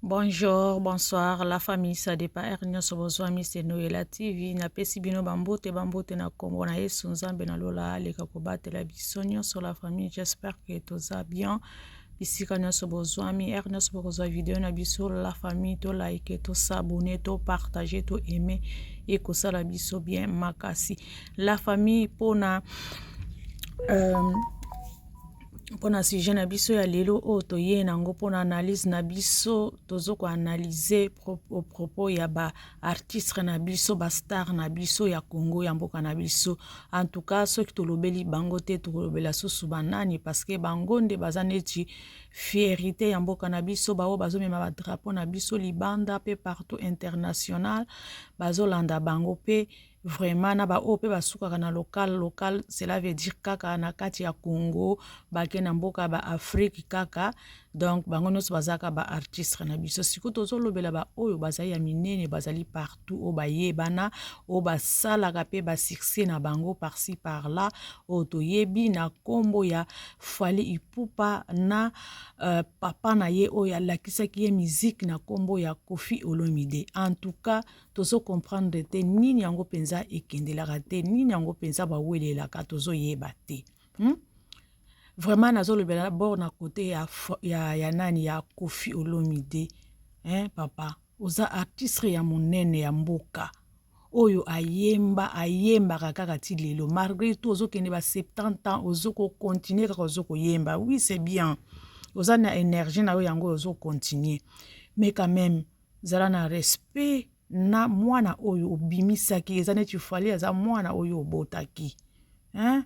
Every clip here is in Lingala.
Bonjour, bonsoir, la famille Sadepa R nyonso bozwami se Noela TV napesi bino bambote bambote na nkombo na Yesu Nzambe na lola aleka kobatela biso nyonso la famille j'espère que toza bien bisika nyonso bozwami r nyonso bokozwa video na biso la famille to like to s'abonner to partager to aimer ekosala biso bien makasi la famille mpona euh, mpo na sujet na biso ya lelo oyo toye na yango mpo na analyse na biso tozo koanalyse au propos ya ba artistre na biso ba star na biso ya congo ya mboka na biso en tout cas soki tolobeli bango te tokolobela susu banani parce que bango nde baza neti fierité ya mboka na biso baoyo bazomema ba drapeau na biso libanda mpe partout international bazolanda bango mpe Vraiment na ba oyo pe basukaka na local local cela veut dire kaka na kati ya Congo bake na mboka ba Afrique kaka donc bango nyonso bazalaka ba artistes na biso siko tozolobela ba oyo bazali ya minene bazali partout oyo bayebana oyo basalaka pe ba succès na bango par ci par là oyo toyebi na kombo ya Fally Ipupa na euh, papa na ye oyo alakisaki ye musique na kombo ya Koffi Olomide en tout cas tozo comprendre te nini yango mpenza ekendelaka te nini yango mpenza bawelelaka tozoyeba te hmm? vraiment nazolobela bord na kote ya, ya, ya nani ya kofi olomide hein, papa oza artistre ya monene ya mboka oyo ayemba ayembaka kaka ti lelo malgré tout ozokende ba 70 ans ozokocontinue kaka ozokoyemba oui c'est bien oza na énergie na yo yango ozocontinue mais quand même zala na respect na mwana oyo obimisaki eza neti fali aza mwana oyo obotaki hein?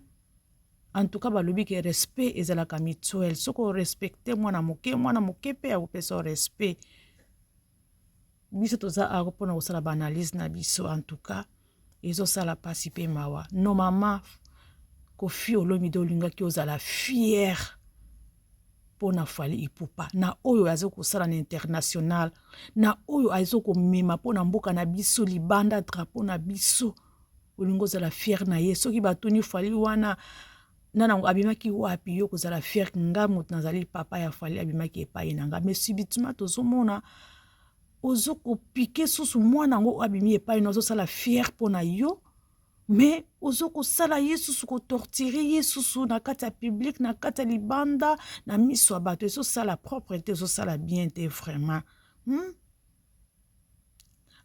en tout cas balobi ke respect ezalaka mutuel soki orespecte mwana moke mwana moke mpe akopesa respect biso toza awa mpona kosala baanalyse na biso en tout cas ezosala pasi pe mawa no mama kofi olomide olingaki ozala fiere mpo na fali ipupa na oyo aza kosala na international na oyo aza komema mpo na mboka na biso libanda drapo na biso olingi ozala fiere na ye soki batuni fali wana nanango abimaki wapi yo kozala fiere nga moto nazali papa ya fali abimaki epai na nga mais subitement tozomona ozo ko piquer susu mwana yango abimi epai na ozosala fier mpo na yo mais ozo kosala ye susu kotortire ye susu na kati ya publike na kati ya libanda na miso ya bato ezosala propre te ezosala bien te vraiment hmm?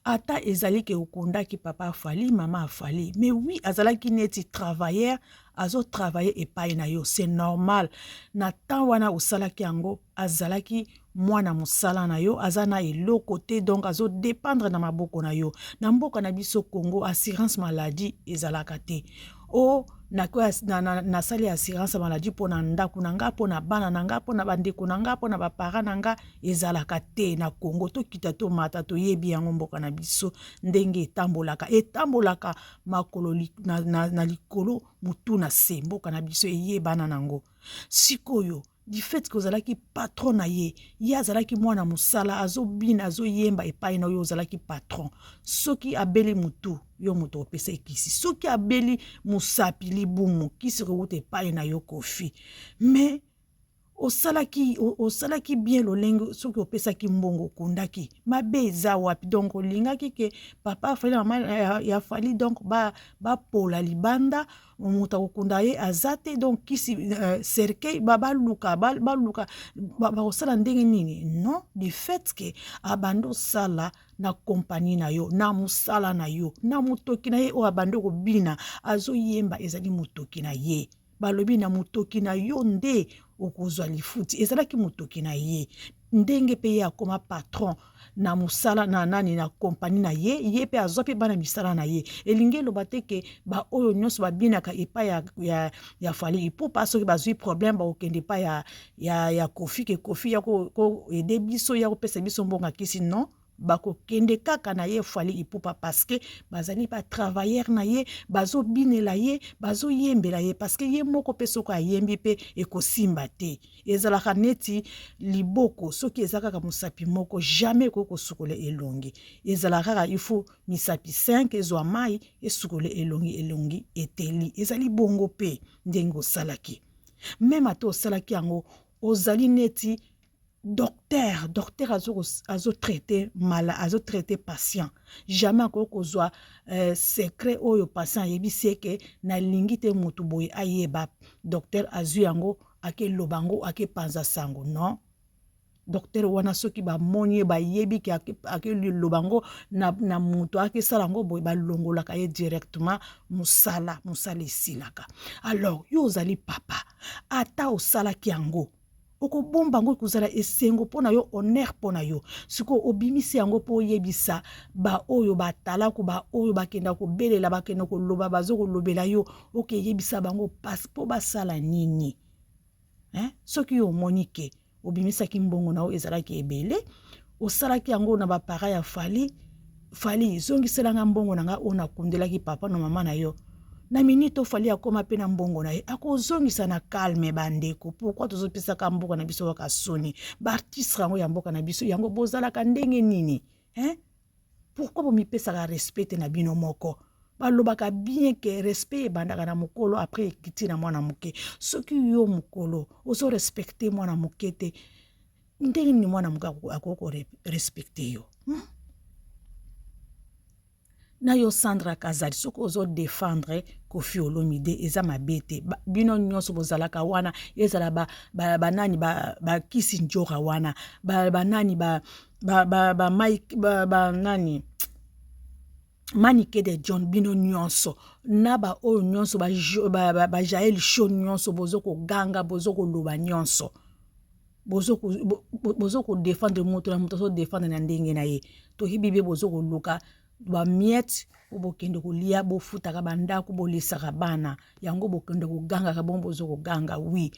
ata ezali ke okondaki papa afali mama afali mais oui azalaki neti travailleur azotravaille epai na yo c'est normal na temps wana osalaki yango azalaki mwana musala na yo aza na eloko te donc azo dependre na maboko na yo na mboka na biso Congo assurance maladie ezalaka te o oh, nasali na, na, assurance ya maladie mpo na ndako na ngai mpo na bana na ngai mpo na bandeko na ngai mpo na bapara na ngai ezalaka te na congo tokita tomata toyebi yango mboka na biso ndenge etambolaka etambolaka makolo li, na, na, na likolo motu na se mboka na biso eyebana nango sikoyo du fait que ozalaki patron na ye ye azalaki mwana mosala azobina azoyemba epai na oyo ozalaki patron soki abeli motu yo moto opesa ekisi soki abeli mosapi libumu kisi kowuta epai na yo kofi mais osalaki osalaki bien lolenge soki opesaki mbongo okundaki mabe eza wapi donc olingaki ke papa afali na mama ya fali donc bapola ba libanda moto akokunda ye aza te donc kisi euh, cercueil baluka baluka bakosala ndenge nini non du fait ke abandi osala na kompani na yo na mosala na yo na motoki na ye oyo abandi kobina azoyemba ezali motoki na ye balobi na motoki na yo nde okozwa lifuti ezalaki motoki na ye ndenge mpe ye akoma patron na mosala na nani na kompani na ye ye mpe azwa mpe bana misala na ye elingi eloba te ke baoyo nyonso babinaka epai ya, ya, ya fali ipupa soki bazwi problème bakokende epai ya, ya, ya kofi ke kofi ya koede biso ya kopesa biso mbongo ya kisi non bakokende kaka na ye fali ipupa parceke bazali batravailleur na ye bazobinela ye bazoyembela ye parceke ye moko mpe soki ayembi mpe ekosimba te ezalaka neti liboko soki eza kaka mosapi moko jamais ekoki kosukola elongi ezalaka kaka ifo misapi 5 ezwa mai esukola elongi elongi eteli ezali bongo mpe ndenge osalaki meme ata osalaki yango ozali neti docteur docteur azo traite mala azo traite patient jamais akoki kozwa euh, secret oyo patient ayebisi eke nalingi te motu boye ayeba docteur azwi yango akeloba yango akepanza sango non docteur wana soki bamoni ye bayebi ke akeloba yango na, na moto akesala yango boye balongolaka ye directement mosala mosala esilaka alors yo ozali papa ata osalaki yango okobomba yango ekozala esengo mpo na yo honere mpo na yo sikoyo obimisi yango mpo oyebisa baoyo batalaku baoyo bakenda kobelela bakenda koloba bazo kolobela yo okeyebisa bango mpasi mpo basala nini eh? soki yo omoni ke obimisaki mbongo na yo ezalaki ebele osalaki yango na ba parents ya Fally Fally zongisela nga mbongo na nga oyo nakundelaki papa na mama na yo na minute oyo Fally akoma mpe na mbongo na ye akozongisa na calme bandeko pourkui tozopesaka mboka na biso kaka soni baartistre yango ya mboka na biso yango bozalaka ndenge nini hein? pourkui bomipesaka respect te na bino moko balobaka bien ke respect ebandaka na mokolo apres ekiti na mwana moke soki yo mokolo ozo respecte mwana moke te ndenge nini mwana moke akoki korespecte yo hmm? na yo sandra kazali soki ozodefendre kofi olomide eza mabe te bino nyonso bozalaka wana ezala banani ba, ba, ba, ba kisi njora wana banani ba, ba, ba, ba, mike, ba, ba, nani manike de john bino nyonso na baoyo nyonso bajael ba, ba, ba show nyonso bozo koganga bozo koloba nyonso bozo ko bozo ko defendre moto na moto azo defendre na ndenge na ye toyebi be bozo koluka ba miette po bokende kolia bofutaka bandako bolisaka bana yango bokende kogangaka bongo bozo koganga wi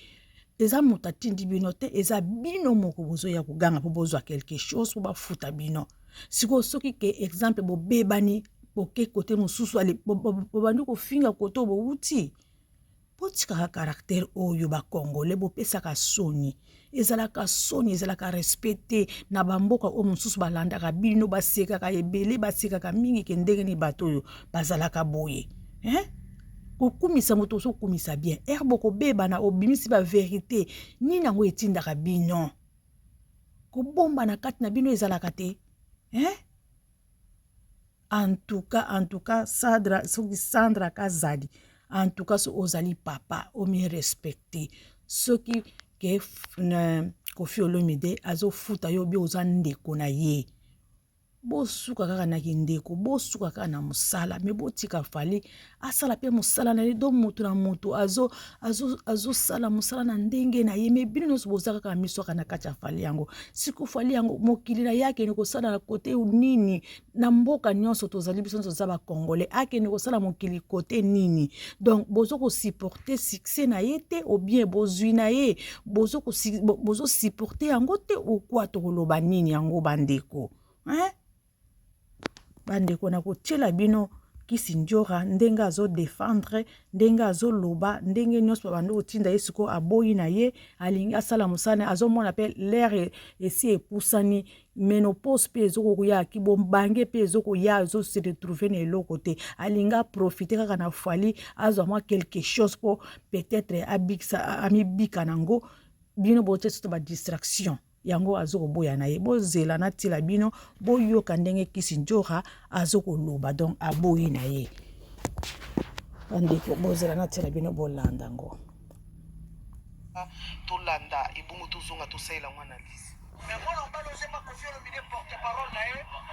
eza moto atindi bino te eza bino moko bozoya koganga po bozwa quelque chose po bafuta bino sikoyo soki ke exemple bobebani boke kote mosusu bobandi kofinga kote oyo bowuti botikaka caractère oyo bacongolais bopesaka soni ezalaka soni ezalaka respect te na bamboka oyo mosusu balandaka bino basekaka ebele basekaka mingi ke ndenge nini bato oyo bazalaka boye eh? kokumisa moto ozokumisa bien ere bokobebana obimisi baverité nini yango etindaka bino kobombana kati na bino ezalaka te eh? en tout cas en tout cas sadra soki sandra kazadi en tout cas soki ozali papa omi respecte soki ke euh, kofi olomide azofuta yo bi oza ndeko na ye bosuka kaka na kindeko bosuka kaka na mosala me botika fali asala mpe mosala na ye do moto na moto azosala mosala na ndenge na ye me bino nyonso boza kaka na miso kaka na kati ya fali yango siko fali yango mokili na ye akende kosala na kote nini na mboka nyonso tozali biso nyonso toza bacongolais akende kosala mokili kote nini donc bozo kosupporte succès na ye te obien bozwi na ye bozosupporte yango te okwa tokoloba nini yango bandeko hein? Bandeko na kotiela bino kisi njora ndenge azo defendre ndenge azoloba ndenge nyonso babandi kotinda ye sikoyo aboyi na ye alingi asala mosala na ye azomona pe lere esi epusani menopause pe ezokoya ki bobange pe ezokoya azo se retrouve na eloko te alingi aprofite kaka na Fally azwa mwa quelque chose po peut etre amibika na yango bino botie susu ba distraction. yango azo koboya na ye bozela natiela bino boyoka ndenge kisi njora azo koloba donc aboyi na ye bandeko bozela natiela bino bolanda ngo tolanda ebongo tozonga tosalela yango analyse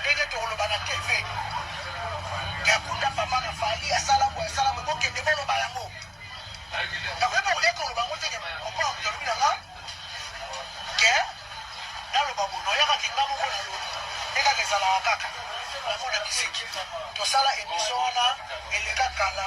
Ndenge tokoloba na TV. Ya kunda papa na Fally asala boye asala boye bokende boloba yango. Nakoki mpe koya koloba yango te papa alobi na nga ke naloba boye noyaka kinga moko na yo nde kaka ezalaka kaka yango na misiki tosala emission wana eleka kala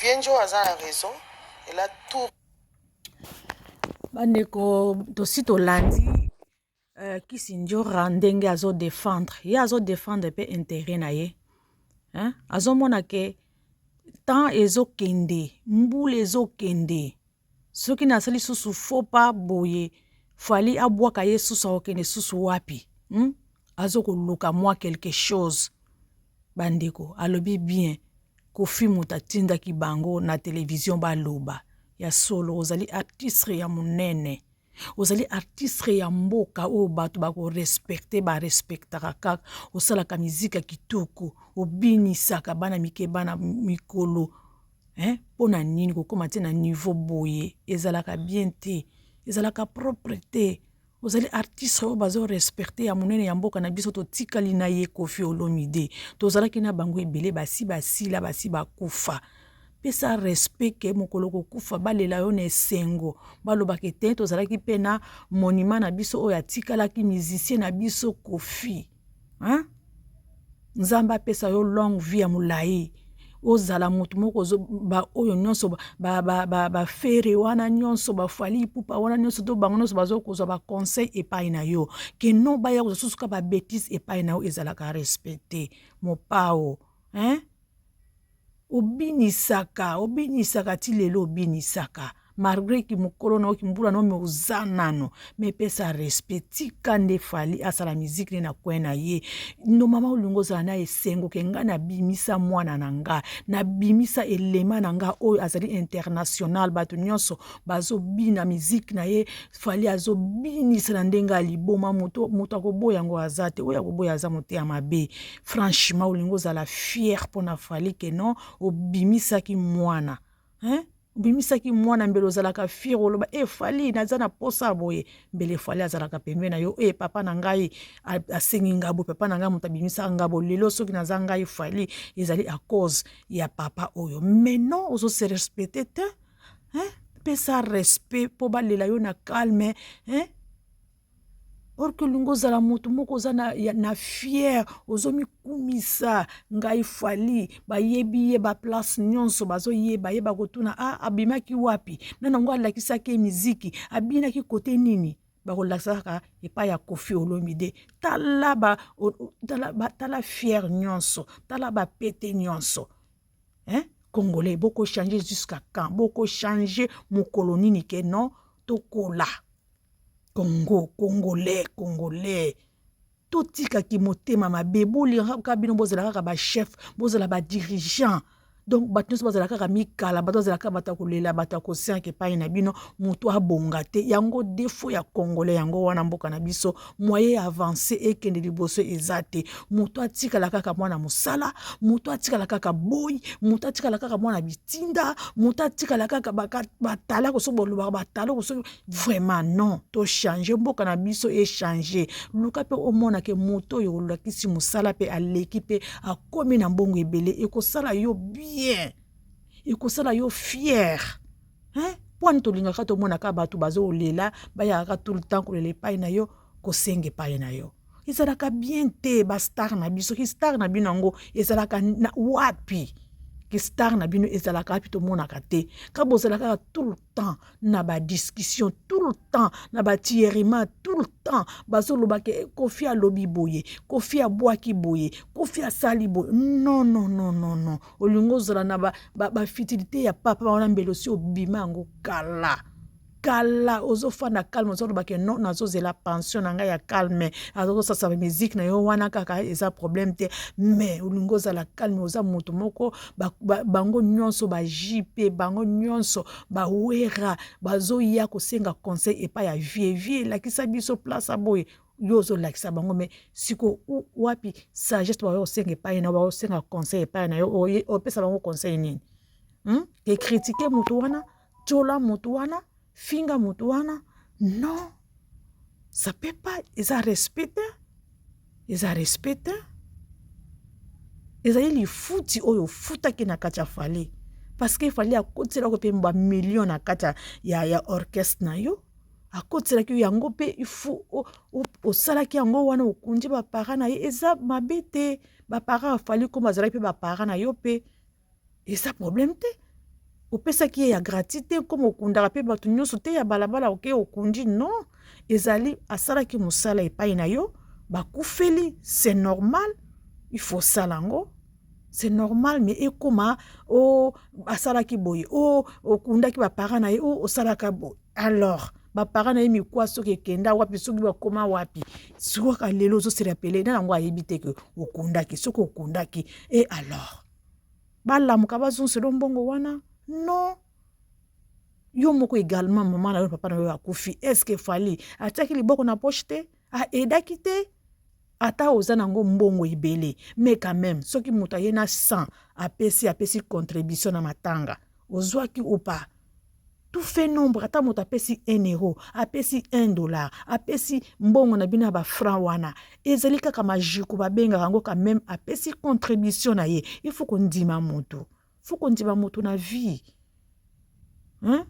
Vienjo aza na raison elle a tout bandeko tosi tolandi Uh, kisi njora ndenge azo defendre ye azo defendre pe intérêt na ye hein? azomona ke temps ezokende mbula ezokende soki nasali susu faux pas boye fali abwaka ye susu akokende susu wapi hmm? azokoluka mwa quelque chose bandeko alobi bien kofi moto atindaki bango na televizio baloba ya solo ozali artistre ya monene ozali artistre ya mboka oyo bato bakorespecte barespectaka kaka osalaka mizika kitoko obinisaka bana mike bana mikolo eh, mpo na nini kokóma te na niveau boye ezalaka bien te ezalaka propre te ozali artiste oyo bazorespecte ya monene ya mboka na biso totikali na ye kofi olomide tozalaki na bango ebele basi basila basi bakufa ba pesa respect ke mokolo kokufa balela yo na esengo balobaka ete tozalaki mpe na monima na biso oyo atikalaki musicien na biso kofi hein? nzambe apesa yo longue vie ya molai ozala motu moko baoyo nyonso bafere wana nyonso bafali ipupa wana nyonso to bango nyonso bazo kozwa baconseil epai na yo ke non baya kozwa susu ka babetise epai na yo ezalaka respecte mopao hein? Obinisaka, obinisaka ti lelo obinisaka malgre ki mokolo na yo kimbula na yo me oza nano me pesa respect tika nde fali asala miziki ne na coin na ye no mama olingi ozala na esengo ke ngai nabimisa mwana na ngai nabimisa elema na ngai oyo azali international bato nyonso bazobina miziki na ye fali azobinisa na ndenge ya liboma moto moto akoboya yango aza te oyo akoboya aza moteya mabe franchement olingi ozala fier mpo na fali ke non obimisaki mwana hein? obimisaki mwana mbele ozalaka fier oloba e eh, fali naza na posa ya boye mbele fali azalaka pembe na yo e papa na ngai asengi ngai boye papa na ngai moto abimisaka ngai boye lelo soki naza ngai fali ezali a cause ya papa oyo mais non ozo se respecte te hein? pesa respect mpo balela yo na calme hein? orke olingi ozala moto moko oza na, na fiere ozomikumisa ngai fali bayebi ye baplace nyonso bazoyeba ye bakotuna a ah, abimaki wapi na nango alakisaki ye miziki abinaki kote nini bakolakisa kaka epai ya kofi olomide tala ba, tala, ba, tala fiere nyonso tala bapete nyonso eh? congolais bokochange jusqu'à quand bokochange mokolo nini ke non tokola Congo, Congolais, Congolais. Totika kimotema mabe, bolingaka kaka bino bozala kaka ba chef, bozala ba dirigeant. Donc bato nyonso bazala kaka mikala, bato bazala kaka bato ya kolela, bato ya kosianka epai na bino, moto abonga te. Yango defo ya Congolais, yango wana mboka na biso. moyen ya avance ekende liboso eza te moto atikala kaka mwana mosala moto atikala kaka boyi moto atikala kaka mwana bitinda moto atikala kaka batala koso bolobaka batala koso vraiment non tochange mboka na biso echange luka mpe omona ke moto oyo olakisi mosala mpe aleki mpe akomi na mbongo ebele ekosala yo bien ekosala yo fiere hein mpo ani tolingaka tomonaka bato bazolela bayaka tout le temps kolela epai na yo kosenga epai na yo ezalaka bien te bastar na biso kistar na bino yango ezalaka na wapi kistar na bino ezalaka wapi tomonaka te ka bozalaka kaka tout le temps na badiscussion tout le temps na batierima tout le temps bazolobaka kofi alobi boye kofi abwaki boye kofi asali boye non non non non non olingi ozala na bafitilité ba, ba ya papa wana mbele osi obima yango kala kala ozofanda calme ozoloba ke non nazozela pension na ngai ya calme azozosasa musique na yo wana kaka eza problème te mais olingi ozala calme oza moto moko bango nyonso bajipe bango nyonso bawera bazoya kosenga conseil epai ya vie vie elakisa biso place aboye yo ozolakisa bango me siko wapi sagesse bakoki kosenga epai na bakosenga conseil epai na yo opesa bango conseil nini hmm? ekritike motu wana tyola motu wana finga motu wana non ça peut pas eza respect te eza respect te ezali lifuti oyo ofutaki na kati ya fali parce que fali akotiselako mpe bamillion na kati ya, ya, ya orchestre na yo akotiselaki yo yango mpe ifu osalaki yango wana okunje bapara na ye eza mabe te bapara afali koma azalaki mpe bapara na yo mpe eza probleme te opesaki ye ya gratis te koma okundaka mpe bato nyonso te ya balabala oke okundi non ezali asalaki mosala epai na yo bakufeli c'est normal il faut osala yango c'est normal mais ekoma o oh, asalaki boye o oh, okundaki baparent na ye o oh, osalaka boye alors ba parents na ye mikuwa soki ekenda wapi soki bakoma wapi sikoka lelo ozo se rappeler na yango ayebi te ke okundaki soki okundaki et alors balamuka bazonselo mbongo wana non yo moko également mama na yo papa na yo akufi est ce que fali atiaki liboko na poche te a edaki te ata oza nango mbongo ebele mais quand même soki moto aye na 100 apesi apesi contribution na matanga ozwaki ou pas tout fait nombre ata moto apesi 1 euro apesi 1 dollar apesi mbongo na bino ya bafranc wana ezali kaka majuku babengaka yango quand même apesi contribution na ye il faut kondima moto fo kondima moto na vie hein?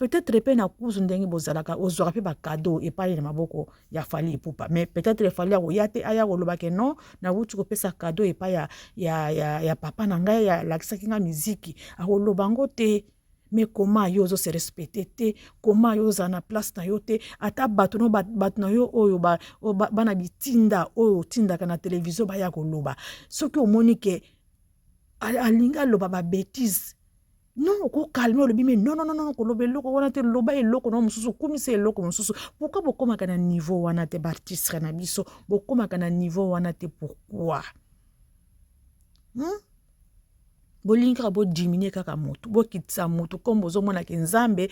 peut-être mpe na kuzu ndenge bozalaka ozwaka mpe bakado epai na maboko ya fali epupa mais peut-être fali akoya te aya koloba ke non nawuti kopesa kado epai ya, ya, ya, ya papa na ngai alakisaki ngai miziki akoloba yango te Mais comment yo ozo se respecter te comment yo ozala na place na yo te ata bato no bato na yo oyo ba, ba, bana bitinda oyo otindaka na televizio baya koloba soki omoni ke alingi aloba babetise non okokalme olobi me non non non koloba eloko wana te loba eloko na mosusu okumisa eloko mosusu pourkui bokomaka na niveau wana te baartistre na biso bokomaka na niveau wana te pourkui hmm? bolingi kaka bodiminue kaka motu bokitisa motu nkombo ozomona ke nzambe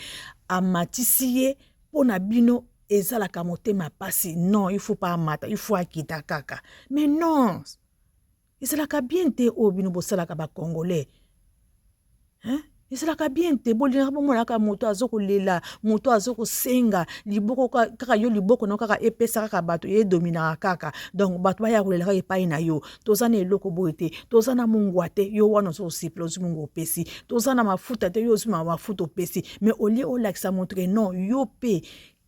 amatisi ye mpo na bino ezalaka motema mpasi non il faut pa amata il faut akita kaka mais non ezalaka bien te oyo bino bosalaka bacongolais hein? ezalaka bien te bolingaka bomonaka moto azo kolela moto azo kosenga liboko kaka yo liboko na kaka epesa kaka bato edominaka kaka donc bato baya kolela kaka epai na yo toza na eloko boye te toza na mongwa te yo wana ozo kosepela ozwi mongwa opesi toza na mafuta te yo ozwi mafuta opesi mais olie olakisa moto ke non yo mpe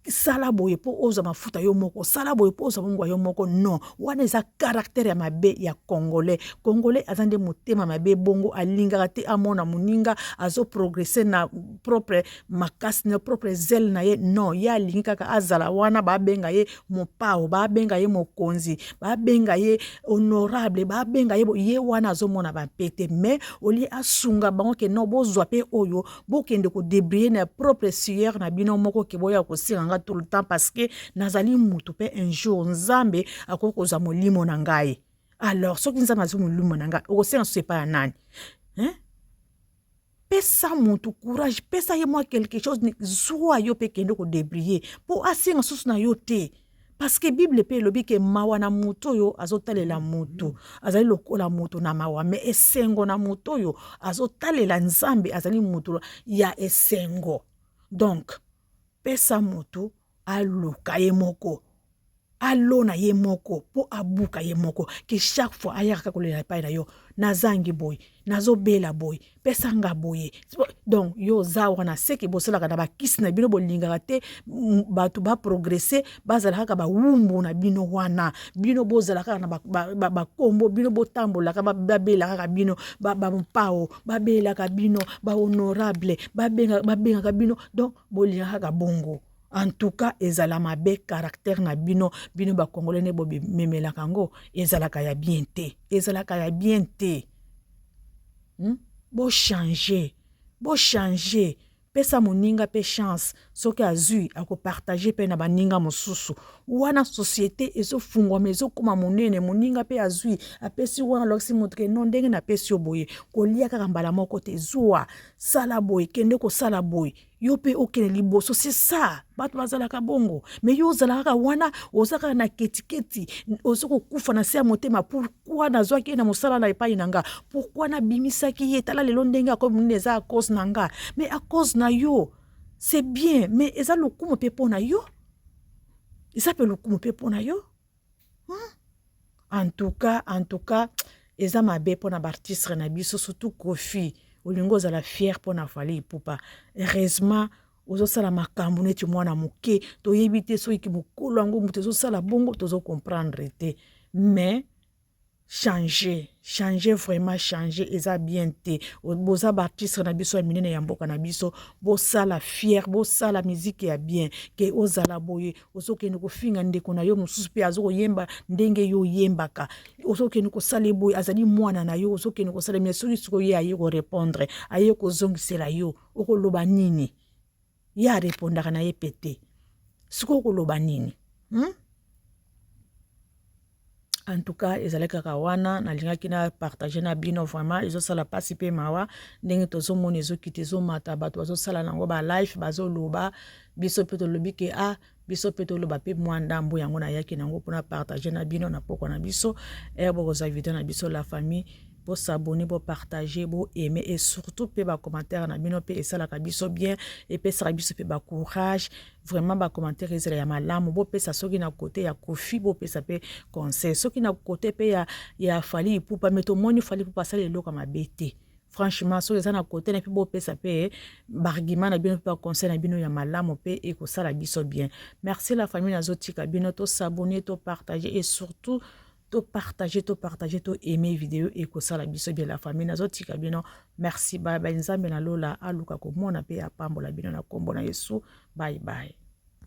sala boye mpo ozwa mafuta yo moko sala boye mpo ozwa mongwa yo moko non wana eza karaktere ya mabe ya congolais congolais aza nde motema mabe bongo alingaka te amona moninga azoprogrese na propre makasi na propre zele na ye non ye alingi kaka azala wana babenga ye mopao babenga ye mokonzi babenga ye honorable babenga ye ye wana azomona bampe te mais olie asunga bango ke non bozwa mpe oyo bokende kodebriller na propre sueur na bino moko ke boya kosenga nga tout le temps parce que nazali mutu mpe un jour nzambe akoki kozwa molimo na ngai alors soki nzambe azwi molimo na ngai okosenga susu epai ya nani hein? pesa motu courage pesa ye mwa quelque chose zwa yo mpe kende kodebriller mpo asenga susu na yo te Parce que Bible pe elobi ke mawa na moto oyo azotalela moto azali lokola moto na mawa mais esengo na moto oyo azotalela Nzambe azali moto ya esengo donc pesa moto aluka ye moko alona ye moko mpo abuka ye moko ke chaque fois ayaka kaka kolela epai na yo nazangi boye nazobela boye pesa nga boye donc yo oza wana seke bosalaka na bakisi na bino bolingaka te bato baprogresse bazala kaka bawumbu na bino wana bino bozala kaka na bakombo bino botambolaka babelaka kaka bino bampao babelaka bino bahonorable babengaka bino donc bolingaka kaka bongo en tout cas ezala mabe caractère na bino bino bakongole nde bomemelaka yango ezalaka ya bien te ezalaka ya bien te Hum bo changer bo changer pesa moninga pe chance soki azui ako partager pe na baninga mosusu wana societe ezo fungwama ezo koma monene moninga pe azui apesi wana alokisi moto ke non ndenge na pesi yo boye kolia kaka mbala moko te zua sala boye kende kosala boye yo mpe okende liboso c'est ça bato bazalaka bongo mais yo ozala kaka wana oza kaka na ketiketi oza kokufa na se ya motema pourkui nazwaki ye na mosala na epai na nga pourkui nabimisaki ye tala lelo ndenge akomi monene eza acause na nga mais acause na yo c'est bien mais eza lokumu mpe mpo na yo eza mpe lokumu mpe mpo na yo hmm? en tout cas en tout cas eza mabe mpo na baartistre na biso surtout kofi olingi ozala fiere mpo na fali ipupa heureusement ozosala makambo neti mwana moke toyebi te soki mokolo yango moto ezosala bongo tozo comprendre te mais changer changer vraiment changer eza bien te boza ba artistes na biso ya minene ya mboka na biso bosala fier bosala musique ya bien ke ozala boye ozokende kofinga ndeko na yo mosusu mpe azokoyemba ndenge yo oyembaka ozokende kosala ye boye azali mwana na yo ozokende kosala me soki sikoyo ye aye korepondre aye kozongisela yo okoloba nini ye arepondaka na ye mpe te sikoy okoloba nini hmm? en tout cas ezalaki kaka wana nalingaki na partage na bino vraiment ezosala mpasi mpe mawa ndenge tozomona ezokita ezomata bato bazosala nango balife bazoloba biso mpe tolobi ke a ah, biso mpe toloba mpe mwa ndambo yango nayaki nango mpona partage na bino na pokwa na biso ere eh, bokozwa video na biso la famille bosabone bopartage boaime e surtout mpe bacommentaire na bino mpe esalaka biso bien epesaka biso mpe bacourage vraiment bacommentaire ezala ya malamu bopesa soki na kote ya kofi bopesa mpe conseil soki na kote mpe ya, ya fali ipupa me tomoni fali ipupa asali eloko mabe te franchement soki eza na kote na mpe bopesa mpe bargument na bino mpe baconseil na bino ya malamu mpe ekosala biso bien merci la famille nazotika bino tosabone topartage et surtout topartage topartage to aime video ekosala biso bien la famille nazotika bino merci bye bye nzambe na lola aluka komona mpe apambola bino na nkombo na yesu bye bye